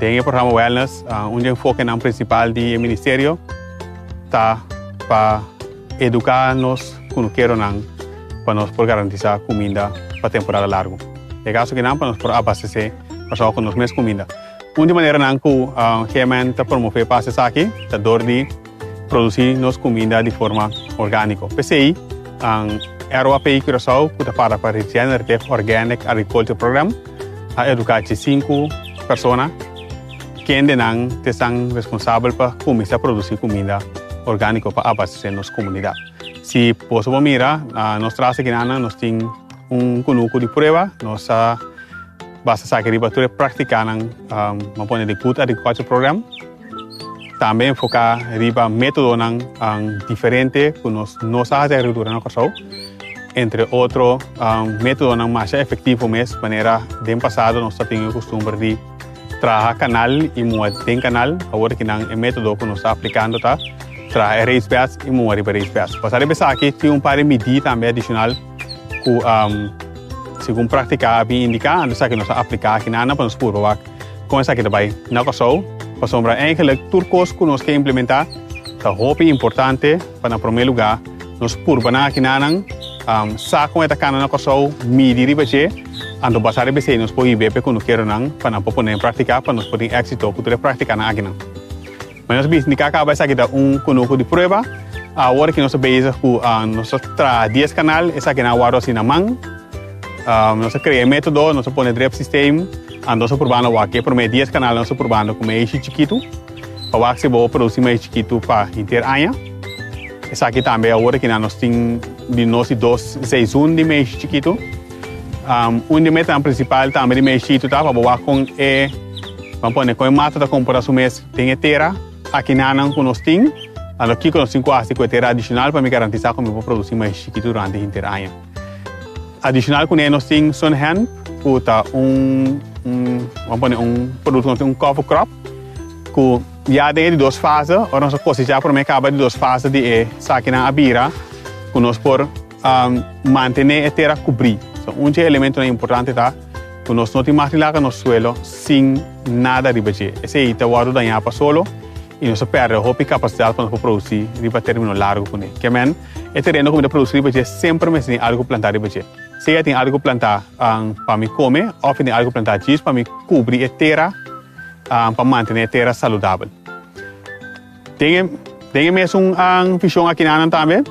Den e programa Wellness, un di e enfokenan prinsipal di e ministerio ta pa eduká nos kunukeronan pa nos por garantisá kuminda pa temporada largu. E kaso akinan pa nos por abastesé Kòrsou ku nos mes kuminda. Un di maneranan ku GMN ta promové pas esaki ta dor di. Produci nos cuminda di forma organico. P'esey, ROAPI Curaçao, cu ta para pa Regenerative Organic Agriculture Program, a educa ci sinku persona kendenan ta esnan responsabel pa cuminsa produci cuminda organico pa abastece nos comunidad. Si boso por mira, nos tras aki nan nos tin un cunucu di prueba. Nos a basa esaki riba tur e practicanan, nan pone di Good Agriculture Program. Tambe enfoká riba métodonan diferente ku nos no sa hasi agrikultura na Kòrsou. Entre otro métodonan masha efektivo mes manera den pasado nos a tin e kustumber di traha kanal i mua den kanal. Awor aki nan e método ku nos ta aplikando ta traha e reisbèds i mua riba e reisbèds. Basá riba esaki tin un par di midí tambe adishonal. ku segun praktika a bin indiká, anto esaki nos a apliká aki na Ana pa nos purba wak kon esaki ta bai. Na Kòrsou, pasobra eigenlik tur kos ku nos ke implementá ta hopi importante pa na promé lugá nos purbanan aki na nan sa kon e ta kana na Kòrsou, midi riba dje, anto basá riba esei nos por hib'é p'e kunukeronan pa nan por pon'é en praktika pa nos por tin éksito ku tur e praktikanan akinan. Como nos bisa, nica caba esaki ta un conuho di prueba. Awor que nos ta bezig cu nos ta traha dies canal, esaki na wor asina man. Nos ta crea e metodo, nos ta pone drip systeem, anto nos ta probando awor. Ke prome dies canal nos ta probando cu maishi chikitu, pa wak si bo a produci maishi chikitu pa henter aña. Esaki tambe awor que nos tin di nos di dos seizoen di maishi chikitu. Um, un di metanan principal tambe di Meishito ta pa bo wak con e, van pone con e mata ta compora su mes den e tera aki nanan cu nos tin, tando kico nos tin cu haci cu e tera adicional pa mi garantisa cu mi por produci mais chiquito durante hinter aña. Adicional cu ne nos tin Sunhemp, cu ta un, un, van pone un producto nos tin un cover crop, cu ya den e di dos fase, ora nos a cosechar prome caba di dos fase di e sakinan a bira, cu nos por Um, mantené e tera kubrí. So, un dje elementonan importante ta ku nos no tin mas di laga nos suelo sin nada riba dje. Esei ta wòrdu dañá pa solo i nos a pèrdè hopi kapasidat pa nos por produsí riba término largu kuné. Ke men, e tereno ku mi ta produsí riba dje semper mester tin algu plantá riba dje. Sea tin algu plantá um, pa mi kome òf e tin algu plantá djis pa mi kubri e tera um, pa mantené e tera saludabel. Den e den e mesun vision akinanan tambe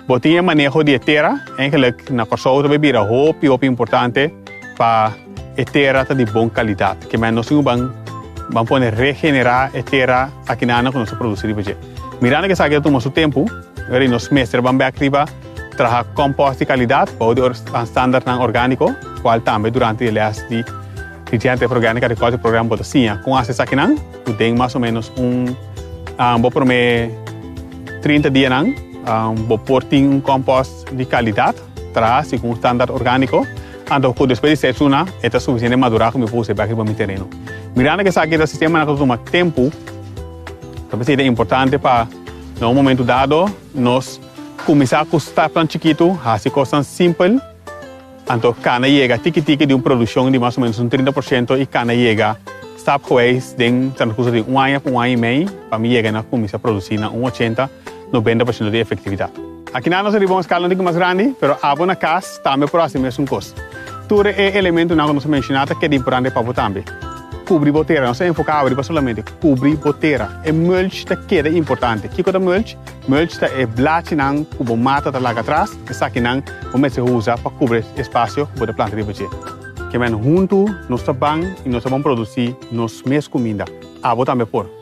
bo tin e maneho di e tera. Eigenlijk na Kòrsou ta bira hopi hopi importante pa e tera ta di bon kalidat. Kiman nos tin ku ban ban pone regenerá e tera akinanan ku nos ta produsí riba dje. Mirando ke esaki ta tuma su tempu, wèr di nos mester ban bèk riba traha kòmpòs di kalidat bou di or standartnan orgániko, kual tambe durante di lès di di Diario Tierra Orgánica Agriculture Program bo ta siña kon hasi esakinan. Cu den mas o menos un um, bo prome 30 dianan um, bo por tin un compost di calidad traha si cu un standaard orgánico. Anto cu despues di seis luna e ta suficiente madura cu mi por us'e bek riba mi tereno. Mirando cu esaki ta sistema nan cu ta tuma tempo, ta pens'e ta importante pa na un momento dado nos cuminsa cu stapnan chikito, haci cosnan simpel, Anto cana yega tiki tiki di un produccion di mas o menos un trinta por ciento y cana yega stap geweest den Santa Cruz riba un aña cu un aña y mei pa mi yega na cuminsa produci na un ochenta, nobenta por ciento di efectividad. Akinan nos a riba un escala un tiki mas grandi pero abo na cas tambe por haci mesun cos. Tur e elementonan cu nos a menciona ta keda importante pa bo tambe. Cubri bo tera, nos a enfoca abo riba solamente cubri bo tera. E mulch ta keda importante. Kico ta mulch? Mulch ta e blachinan ku bo mata ta laga atras. Esakinan bo mester usa pa kubri e spasio ku bo ta planta riba dje. Ke men huntu nos ta ban i nos ta bon produsí nos mes kuminda. Abo tambe por.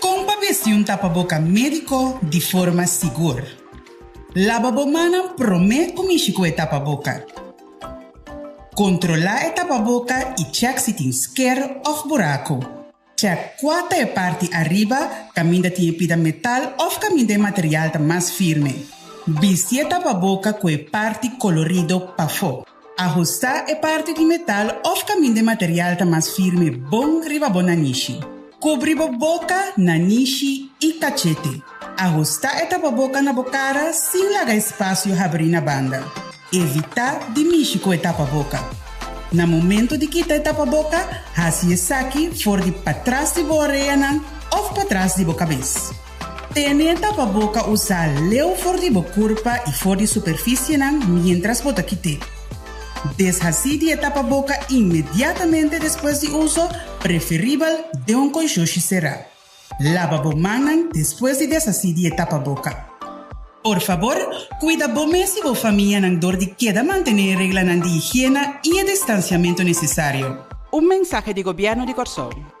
Kon pa besiun tapa boka médiko di forma sigur. Laba bo mannan promé ku mishi ku e tapa boka. Kontrolá e tapa boka i chèk si tin sker òf buraku. Chèk kua ta e parti ariba, kaminda tin e pida metal òf kaminda e material ta mas firme. Bisti e tapa boka ku e parti kolorido pafó. Ahusta e parti di metal of caminda e material ta mas firme bon riba bo nanishi. Cubri bo boca, nanishi y cachete. Ahusta e tapaboca na bo cara sin laga espacio habri na banda. Evita di mishi cu e tapaboca. Na momento di kita e tapaboca, haci esaki for di patras di bo oreanan of patras di bo cabes. Pimienta pa boka usa leu for di bo kurpa i for di superfisienan mientras bo ta kite. Deshasí di e tapa boka inmediatamente despues di uso, preferibel den un koishoshi será. Laba bo mannan despues di deshasí di e tapa boka. Por fabor, kuida bo mes i bo famianan dor di keda mantené e reglanan di higiena i e distansiamentu nesesario. Un mensahe di Gobièrnu di Kòrsou.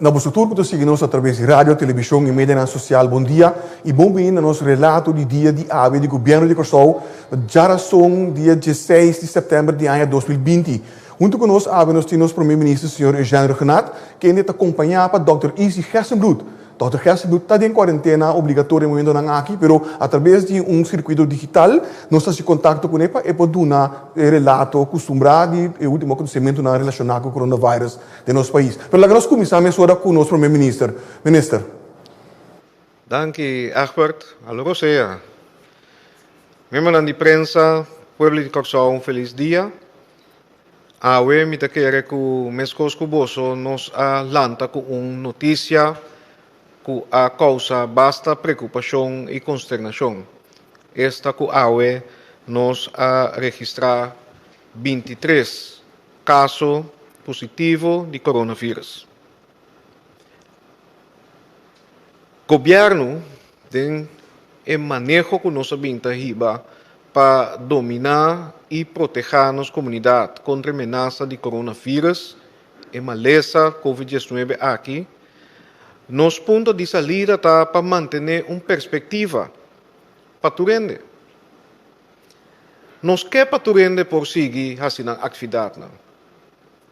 Na boso tur ku ta sigui nos atraves di radio, televishon i medianan sosial, bon dia i bon bini na nos relato di dia di awe di Gobièrnu di Kòrsou na djarazón dia dieseis di sèptèmber di aña dos mil binti. Huntu ku nos awe nos tin nos Promé Minister señor Eugène Regenat, kende ta kompañá pa dòkter Izzy Gerstenbloed. Dòkter Gerstenbloed ta den kwarentena obligatorio e momentonan aki, pero atraves di un sirkuito digital nos ta hasi kontakto kuné pa e por duna e relato kustumbrá di e último akontesementunan relashoná ku Coronavirus. den nos pais. Pero laga nos kuminsá mesora ku nos Prome Minister. Minister. Danki Egbert. Alo ku sea. Miembronan di prensa, pueblo di Kòrsou un felis dia. Awe mi ta kere ku meskos ku boso nos a lanta ku un notisia ku a kousa basta preokupashon i konsternashon. Esta ku awe nos a registrá binti tres kaso positivo di coronavirus. Gobièrnu den e maneho ku nos a bin ta hiba pa dominá i protehá nos komunidat kontra e menasa di coronavirus, e malesa covid diesnuebe aki, nos punto di salida ta pa mantené un perspektiva pa tur hende. Nos ke pa tur hende por sigui hasi nan aktividatnan.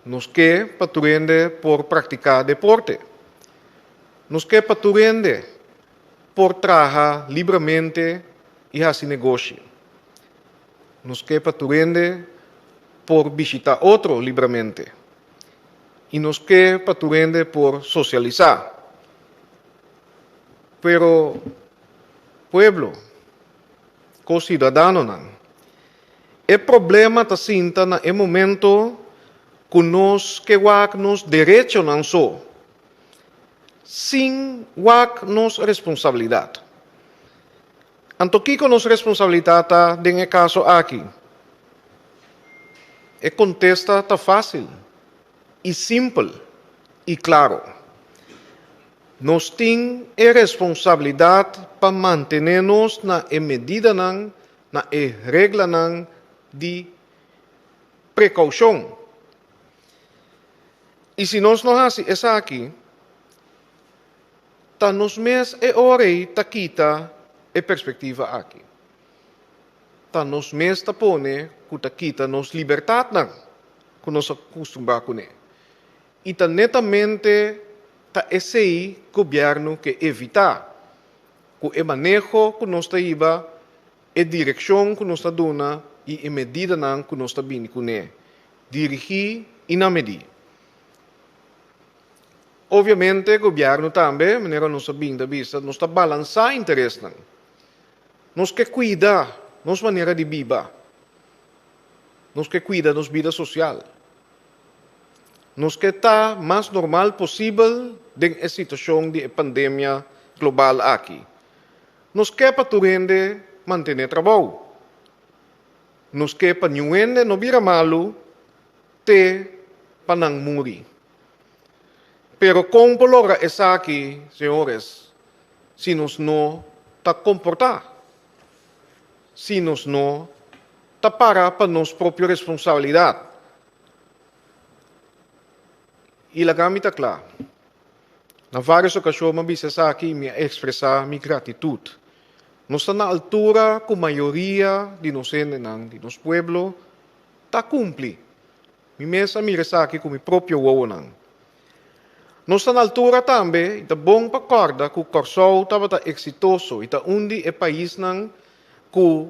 Nos ke pa tur hende por praktiká deporte. Nos ke pa tur hende por traha libramente i hasi negoshi. Nos ke pa tur hende por bishitá otro libramente. I nos ke pa tur hende por sosialisá. Pero, pueblo. ku siudadanonan. E problema ta sinta na e momento ku nos ke wak nos derechonan so, sin wak nos responsabilidat. Anto kiko nos responsabilidat ta den e kaso aki? E kontesta ta fásil. i simpel i klaro. Nos tin e responsabilidat pa mantené nos na e medidanan, na e reglanan di prekoushon. I si nos no hasi esaki, ta nos mes e ora ei ta kita e perspektiva aki. ta nos mes ta pone ku ta kita nos libertadnan ku nos a kustumbrá kuné. I ta netamente ta esei gobièrnu ke evitá, ku e maneho ku nos ta hiba, e direkshon ku nos ta duna i e medidanan ku nos ta bini kuné, dirigí i na medí. Obviamente gobièrnu tambe, manera nos a bini ta bisa, nos ta balansá interesnan. Nos ke kuida nos manera di biba. Nos ke kuida nos bida sosial. Nos ke ta mas normal posibel den e situashon di e pandemia global aki. Nos ke pa tur hende mantené trabou. Nos ke pa niun hende no bira malu te pa nan muri. Pero kon por logra esaki, señores? Si nos no ta komportá, si nos no ta para pa nos propio responsabilidat, i laga mi ta kla, na vários okashon m'a bisa esaki i mi a ekspresá mi gratitut, nos ta na altura ku mayoria di nos hendenan, di nos pueblo, ta kumpli. Mi mes a mira esaki ku mi propio wowonan. Nos ta na altura tambe i ta bon pa kòrda ku Kòrsou tabata eksitoso i ta un di e paisnan ku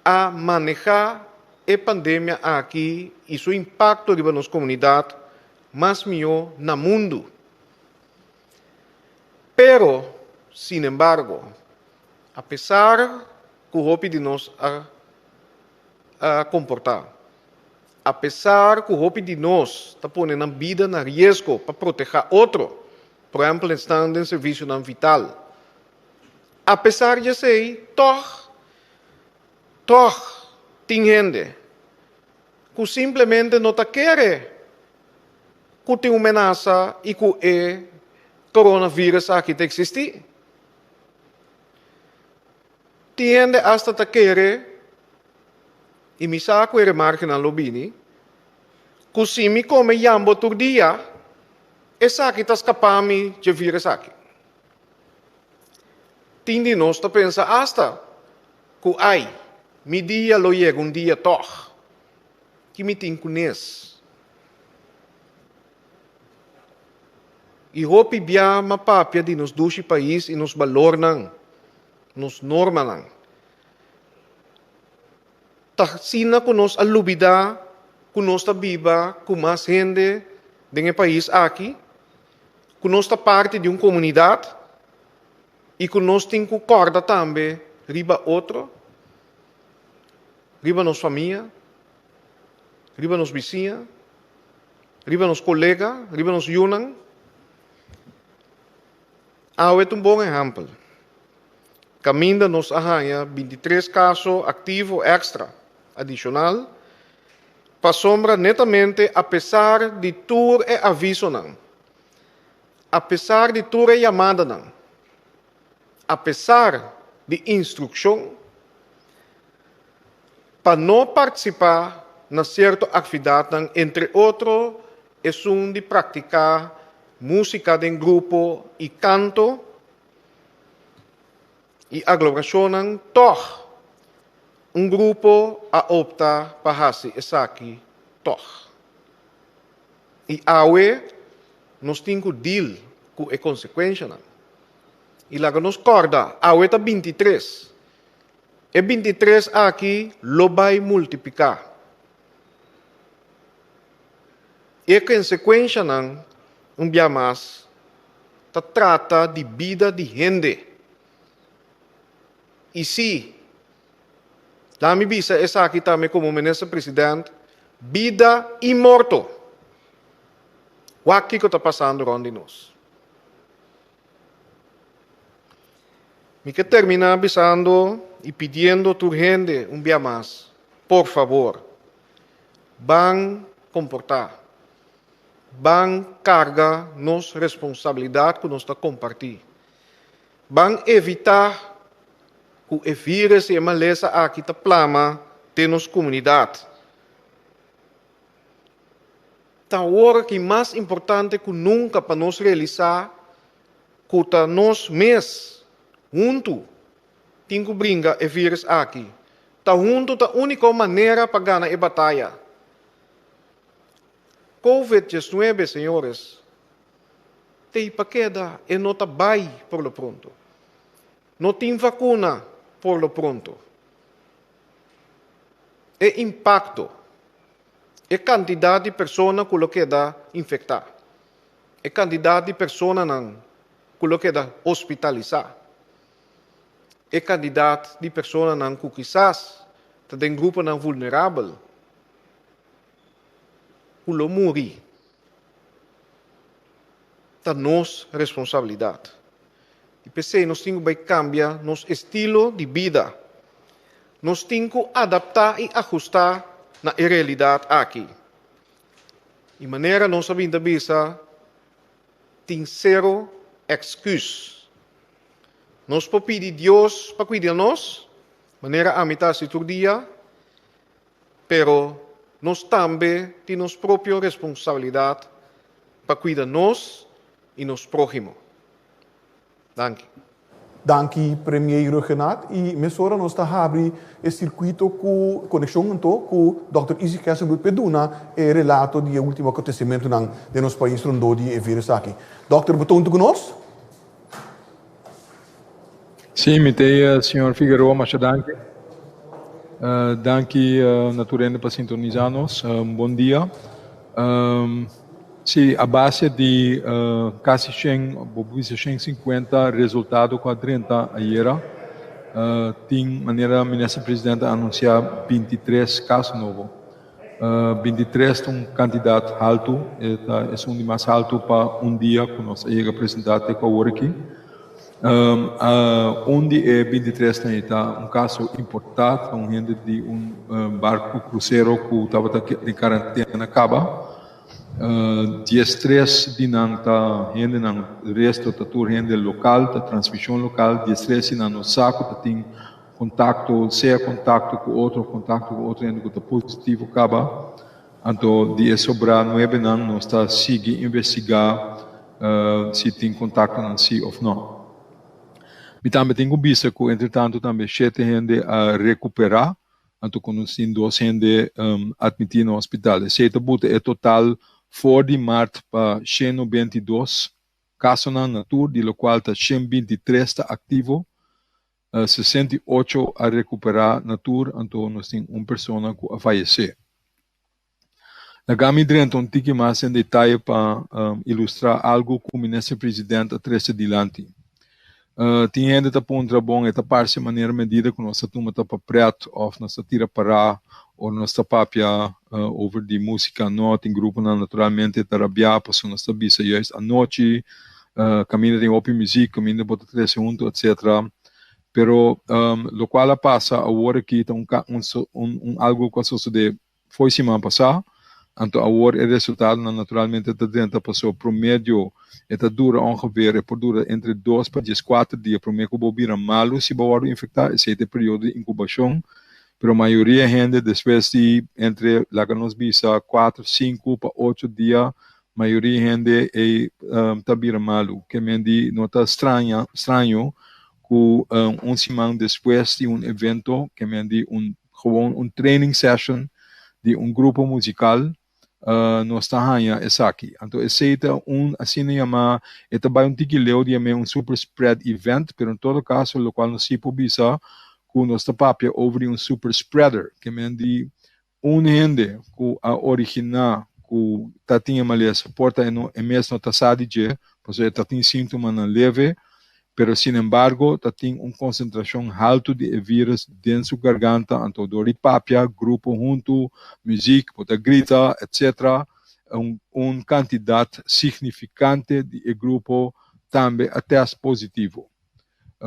a manehá e pandemia aki i su impakto riba nos komunidat mas mihó na mundu. Pero, sinembargo, apesar ku hopi di nos a komportá Apesar cu hopi di nos ta pone nan bida na riesgo pa proteha otro, por ehempel esnan den servicionan vital, apesar di esey tog, tog tin hende cu simplemente no ta kere cu tin un menasa y cu e coronavirus aki ta existi. Tin hende asta ta kere, i mi sa ku e remarkenan lo bini, ku si mi kome yambo tur dia, esaki ta skapá mi dje vira esaki. Tin di nos ta pensa asta ku ai, mi dia lo yega un dia tòg, ki mi tin ku nes? I hopi bia ma papia di nos dushi pais i nos balornan, nos normanan. Ta sina ku nos a lubida ku nos ta biba ku mas hende den e pais aki, ku nos ta parti di un komunidat i ku nos tin ku kòrda tambe riba otro, riba nos famia, riba nos bisiña, riba nos kolega, riba nos yunan. Awe ta un bon ehèmpel. Kaminda nos a haña 23 kaso aktivo èkstra adishonal pasobra netamente apesar di tur e avisonan, apesar di tur e yamadanan, apesar di instrukshon pa no partisipá na sierto aktividatnan, entre otro esun di praktiká músika den grupo i kanto i aglorashonnan, tòg un grupo a opta pa hasi esaki tòg. I awe nos tin ku deal ku e konsekuenshanan. I laga nos kòrda, awe ta binti tres. E binti tres aki lo bai multipliká. I e konsekuenshanan, un bia mas, ta trata di bida di hende. I si Laat mi bisa esaki tambe como minister president, bida y morto. Wak kico ta pasando rond di nos. Mi ke termina bisando y pidiendo tur hende un bia mas, por favor, ban comporta, ban carga nos responsabilidad cu nos ta comparti. Ban evitá ku e vírus i e malesa aki ta plama den nos komunidat. Ta ora ki mas importante ku nunka pa nos realisá ku ta nos mes huntu tin ku bringa e vírus aki. Ta huntu ta úniko manera pa gana e bataya. Covid diesnuebe, señores, t'ei pa keda, e no ta bai por lo pronto. No tin vacuna por lo pronto. E impacto, e cantidad di persona cu lo keda infecta, e cantidad di personanan cu lo keda hospitalisá, e cantidad di personanan cu kisas ta den gruponan vulnerabel, ku lo muri ta nos responsabilidat. I p'esei nos tin ku bai kambia nos estilo di bida. Nos tin ku adaptá i ahustá na e realidat aki. I manera nos a bin ta bisa, tin sero èksküs. Nos por pidi Dios pa kuida nos, manera ami ta hasi tur dia. Pero nos tambe tin nos propio responsabilidad pa cuida nos y nos prohimo. Danki. Danki Premier Ruggenaath y mesora nos ta habri e circuito cu coneccion anto cu Dòkter Izzy Kesselbloed p'e duna e relato di e ultimo acontecimentonan den nos pais rondó di e virus aki. Dòkter, bo ta hunto cu nos? Sí, mi ta eia, señor Figueroa. Masha danki. Danki na tur hende pa sintonisa nos. Un bon dia. Sí, a base di casi shen, bo por bisa shen sinkuenta resultado cu a drenta ayera, tin manera Minister Presidente a anuncia binti tres cas nobo. Bintitres ta un kantidat haltu, e ta esun di mas haltu pa un dia ku nos a yega presentá te ku awor aki. Un di e bintitres nan e ta un kaso importá, ta un hende di un barku krusero ku tabata den karantena kaba. Diestres di nan ta hendenan, resto ta tur hende lokal, ta transmishon lokal. Diestres di nan nos sa ku ta tin. Kontakto, sea kontakto ku otro of kontakto ku otro hende ku ta positivo kaba. Anto di e sobrá nuebenan nos ta sigui investigá si tin kontaktonan sí of no. Mi tambe tin ku bisa ku entretantu tambe shete hende a rekuperá, anto ku nos tin dos hende atmití na hospital. Esei ta buta e total for di mart pa sheno binti dos kasonan na tur, di lokual ta shen binti tres ta aktivo. sesenta i ocho a recuperá na tur, anto nos tin un persona cu a fayecé. Lagami drenta un tiki mas den detaye pa ilustrá algu cu Minister President a trece dilanti. Tin hende ta puntra, Bon, e ta parce manera medida cu nos ta tuma ta pa pret of nos ta tira pará ora nos ta papia over di musica? No, tin gruponan naturalmente e ta rabiá pasobra nos ta bisa juist anochi Caminda tin hopi muziek, caminda bo ta trece hunto, etcetera. Pero locual a pasa awor aki ta un un algo cu a sosode fo'i siman pasa, anto awor e resultadonan naturalmente ta drenta paso promedio e ta dura ongeveer e por dura entre dos pa diescuater dia prome cu bo bira malo si bo wordo infecta, esey ta e periodo di incubacion, pero mayoria hende despues di entre laga nos bisa cuater, cinco pa ocho dia Mayoria hende ei ta bira malu. Kemendi no ta straño ku un siman despues di un evento, kemendi un gewoon un training session di un grupo musikal, nos ta haña esaki. Anto esei ta un asina yamá, e ta bai un tiki leu di amé, un super spread event, pero en todo kaso lokual nos si por bisa ku nos ta papia over di un super spreader, kemendi Un hende ku a originá ku ta tin e malesa por ta e mes no ta sa di dje pasobra e ta tin síntomanan leve, pero sinembargo ta tin un konsentrashon haltu di e vírùs den su garganta, anto dor di papia, grupo huntu, muzik, por ta grita, etc. Un kantidat signifikante di e grupo tambe a tèst positivo.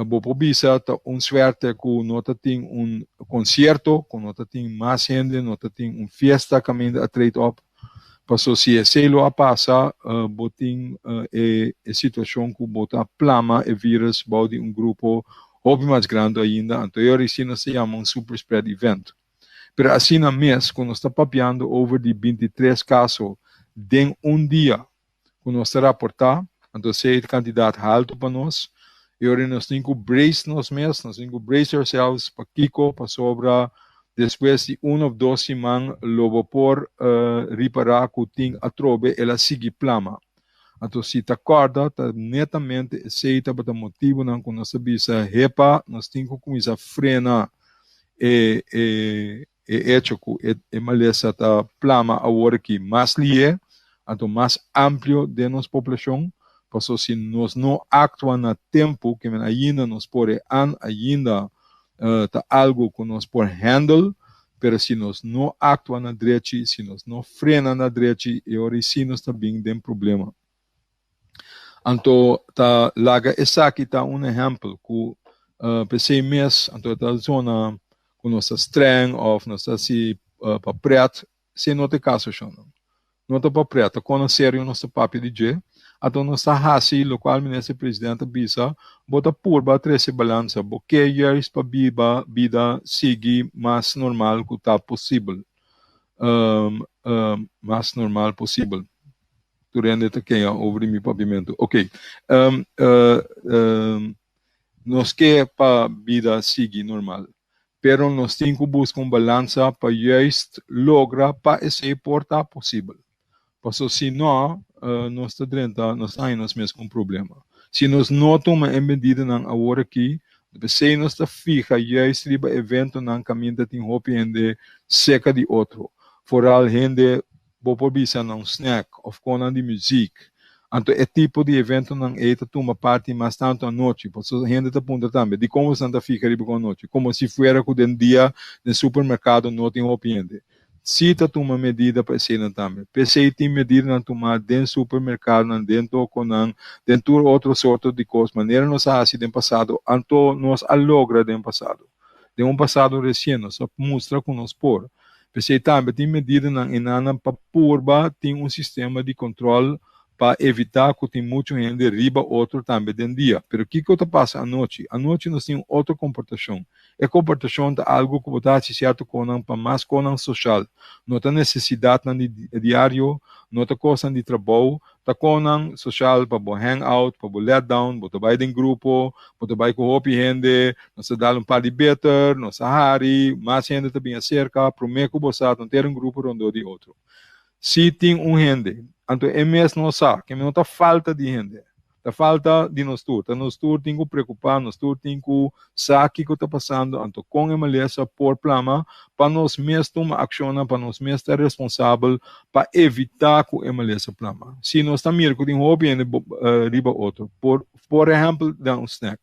bo por bisa ta un suerte cu no ta tin un concierto, cu no ta tin mas hende, no ta tin un fiesta caminda a treed op. Paso si esey lo a pasa, bo tin e situacion cu bo ta plama e virus bao di un grupo hopi mas grandi ainda, anto yo a risi nos ta yama un super spread event. Pero asina mes cu nos ta papiando over di binti tres caso den un dia, cu nos ta raporta, anto así e cantidad halto pa nos, y ora nos tin cu brace nos mes, nos tin cu brace ourselves, pakico, pasobra despues di un of dos siman lo bo por ripara cu tin atrobe el a sigui plama. Anto si ta corda ta netamente esey tabata motibonan cu nos ta bisa hepa nos tin cu cuminsa frena e E echo cu e malesa ta plama awor aki mas lié, anto mas amplio den nos poblacion, paso si nos no actua na tempo kimen ainda nos por e an ainda ta algo cu nos por handle, pero si nos no actua na drechi, si nos no frena na drechi e ora eysi nos ta bin den problema. Anto ta laga esaki ta un ehèmpel ku p'esei mes anto e ta razona ku nos ta strèng òf nos ta hasi pa prèt si e no ta e kaso shonnan no ta pa prèt ta kono serio nos ta papia di dje anto nos ta hasi lokual Minister Presidente a bisa bo ta purba trese balansa bo ke years pa biba bida sigui mas normal ku ta posibel mas normal posibel. Tur hende ta kea over di mi papimentu. Ok. Um, uh, um, nos ke pa bida sigui normal. Pero nos tin ku buska un balansa pa juist logra pa ese por ta posibel. Paso si no, uh, nos ta drenta, nos ta nos mes kon problema. Si nos no tuma e medidanan awor aki, besei nos ta fija juist riba eventonan kaminda tin hopi hende seka di otro. Foral hende Bo por bisa na un snack of con nan di muziek. Anto e tipo di eventonan ey ta tuma parti mas tanto anochi. Por eso hende ta punta tambe, di como esnan ta fica riba cu anochi? Como si fuera cu den dia den supermercado no tin hopi hende? Si ta tuma medida pa eseynan tambe. P'esey tin medidanan tuma den supermercadonan, den toconan, den tur otro sorto di cos, manera nos a haci den pasado, anto nos a logra den pasado. den un pasado resien nos a mustra cu nos por. P'esei tambe tin medidanan enanan pa purba tin un sistema di control pa evita cu tin muchu hende riba otro tambe den dia. Pero kico ta pasa anochi? Anochi nos tin un otro comportacion. E comportacion ta algo cu bo ta haci cierto conan pa mas conan social. No ta necesidadnan di diario, no ta cosnan di trabou, Takonnan sosial pa bo hang out, pa bo let down, bo ta bai den grupo, bo ta bai ku hopi hende, nos ta dal un par di beter, nos ta hari, mas hende ta bin aserka, promé ku bo sa ta un ter un grupo rondó di otro. Si tin un hende, anto e mes no sa, kende no ta falta di hende, ta falta di nos tur, ta nos tur tin ku preokupá, nos tur tin ku Sa kiko ta pasando, anto kon e malesa por plama pa nos mes tuma akshonnan, pa nos mes ta responsabel pa evitá ku e malesa plama? Si nos ta mira ku tin hopi hende riba otro, por por ehèmpel den un snèk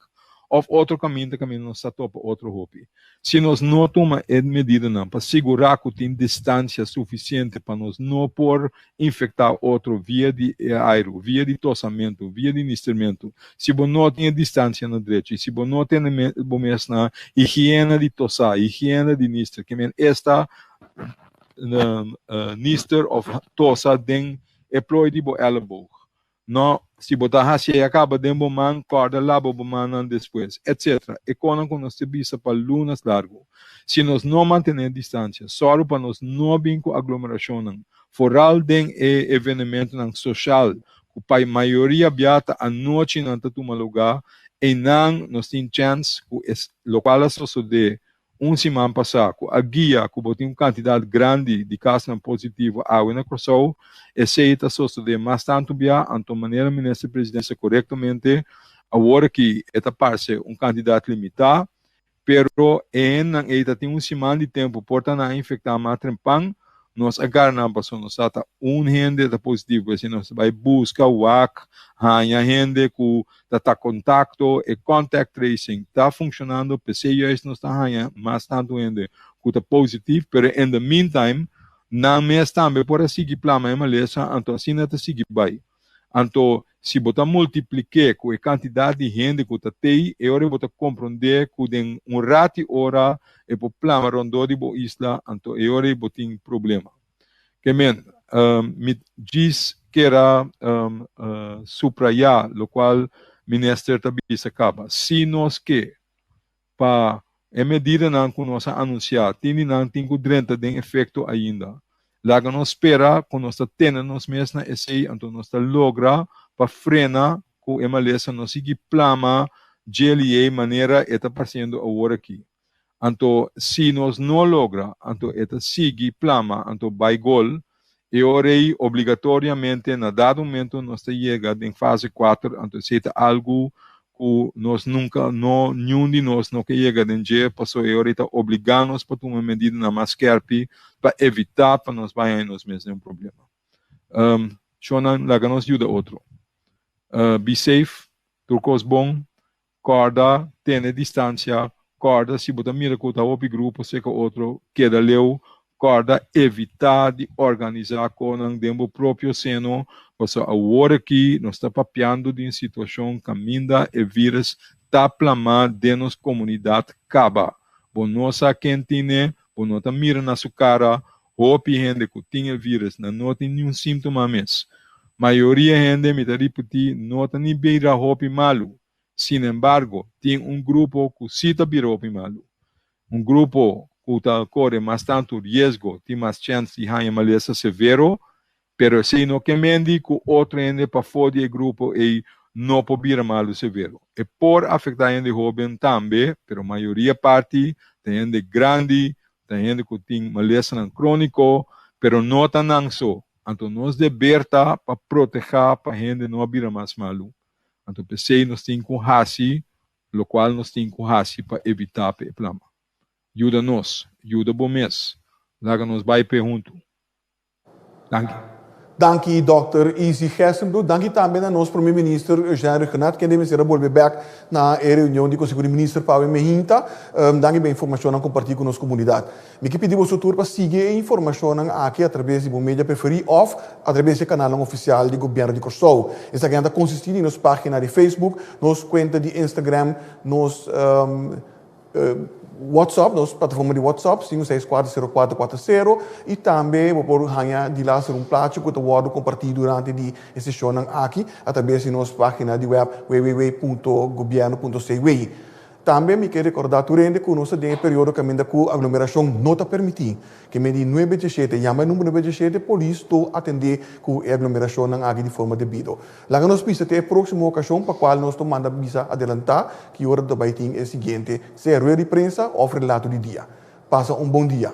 òf otro kaminta kaminda nos ta topa otro hopi, si nos no tuma e medidanan pa sigurá ku tin distansia sufisiente pa nos no por infecta otro via di e airu, via di tosamentu, via di nistermentu. Si bo no tin e distancia na drecho y si bo no tene bo mes na higiena di tosa, higiena di nister, ke men esta nister of tosa den e plooi di bo elleboog, No, si bo ta hasi ey a caba den bo man, corda labo bo mannan despues, etc. E conan cu nos ta bisa pa lunas largu. Si nos no mantene distancia, sorgo pa nos no bin cu aglomeracionnan, foral den e evenementonan social cu pa mayoria bia ta anochi nan ta tuma lugar, eynan nos tin chance cu e locual a sosode Un siman pasá ku a guia ku bo tin un kantidat grandi di kasnan positivo awe na Kòrsou, esei ta sosodé mas tantu biá, anto manera Minister Presidente sa korektamente awor aki e ta parse un kantidat limitá, pero e hendenan ei ta tin un siman di tempu por ta nan a infektá mas trempan, nos a gara nan paso nos sa ta un hende ta positivo, esei nos ta bai buska wak haña hende ku Ta ta kontakto, e contact tracing ta funshonando p'esei juis nos ta haña mas tantu hende ku ta positief, pero in the meantime nan mes tambe por a sigui pla mei malesa, anto asina ta sigui bai. Anto si bo ta multiplik'é ku e kantidat di hende ku ta tei, e ora bo ta komprondé ku den un rati ora e por plama rondó di bo isla, anto e ora ei bo tin problema. Ke men, mi djis kera suprayá lokual Minister ta bisa kaba, si nos ke pa e medidanan ku nos a anunsiá tindinan tin ku drenta den efekto ainda, laga nos spera ku nos ta tene nos mes na esei anto nos ta logra pa frena ku e malesa no sigui plama djeliyei manera e ta pasendo aworakí. Anto si nos no logra anto e ta sigui plama anto bai gol e ora ei obligatoriamente na dado momento nos ta yega den fase kuater anto esei ta algu ku nos nunka no niun di nos no ke yega den dje paso e ora ei ta obliga nos pa tuma medidanan mas skèrpi pa evitá pa nos bai haña nos mes den un problema shònan laga nos yuda otro be safe tur kos bon Kòrda tene distansia, kòrda si bo ta mira ku ta hopi grupo seka otro keda leu, kòrda evitá di organisá konan den bo propio seno, pasó awor aki nos ta papiando di un situashon kaminda e vírus ta plamá den nos komunidat kaba. Bo no sa ken tin ne, bo no ta mira na su kara, Hopi hende ku tin e vírùs nan no tin niun símtoma mes. Mayoria hende, mi ta ripití, no ta ni bira hopi malu. Sinembargo, tin un grupo ku sí ta bira hopi malu. Un grupo ku ta kore mas tantu riesgo, tin mas chèns di haña malesa severo, Pero esei no ke mendi ku otro hende pafó di e grupo ei no por bira malu severo. E por afektá hende hóben tambe, pero mayoria parti ta hende grandi, ta hende ku tin malesanan króniko, pero no ta nan so. Anto nos deber ta pa protehá pa hende no a bira mas malu. Anto p'esei nos tin ku hasi lokual nos tin ku hasi pa evitá p'e plama. Yuda nos, yuda bo mes. Laga nos bai p'e huntu. Danki. Danki Dòkter Izzy Gestenbroek. Danki tambe na nos Prome Minister Eugène Requenart, kende mester a bolbe bèk na e reunion di Konseho di Minister pa awe mi a hinta. Danki pa e informashonnan kompartí ku nos komunidat. Mi ke pidi boso tur pa sigui e informashonnan aki atrabes di bo media preferí òf atrabes di e kanalnan ofisial di Gobièrnu di Kòrsou. Esaki nan ta konsistí di nos página di Facebook, nos kuenta di Instagram, nos. WhatsApp, nos plataforma di WhatsApp, cinco seis cuatro cero cuatro cuatro cero, y tambe bo por haña di laster un plachi cu ta wordo comparti durante di e sesionnan aki a traves di nos pagina di web www.gobierno.cw. Tambe mi ke recorda tur hende cu nos ta den e periodo caminda cu aglomeracion no ta permiti. Keme di nuebe diecisiete, yama e number nuebe diecisiete, polis to atende cu e aglomeracionnan aki di forma debido. Laga nos bisa te e próksimo okashon pa kual nos lo manda bisa adelantá ki ora ta bai tin e siguiente sea rueda di prensa òf relato di dia. Pasa un bon dia.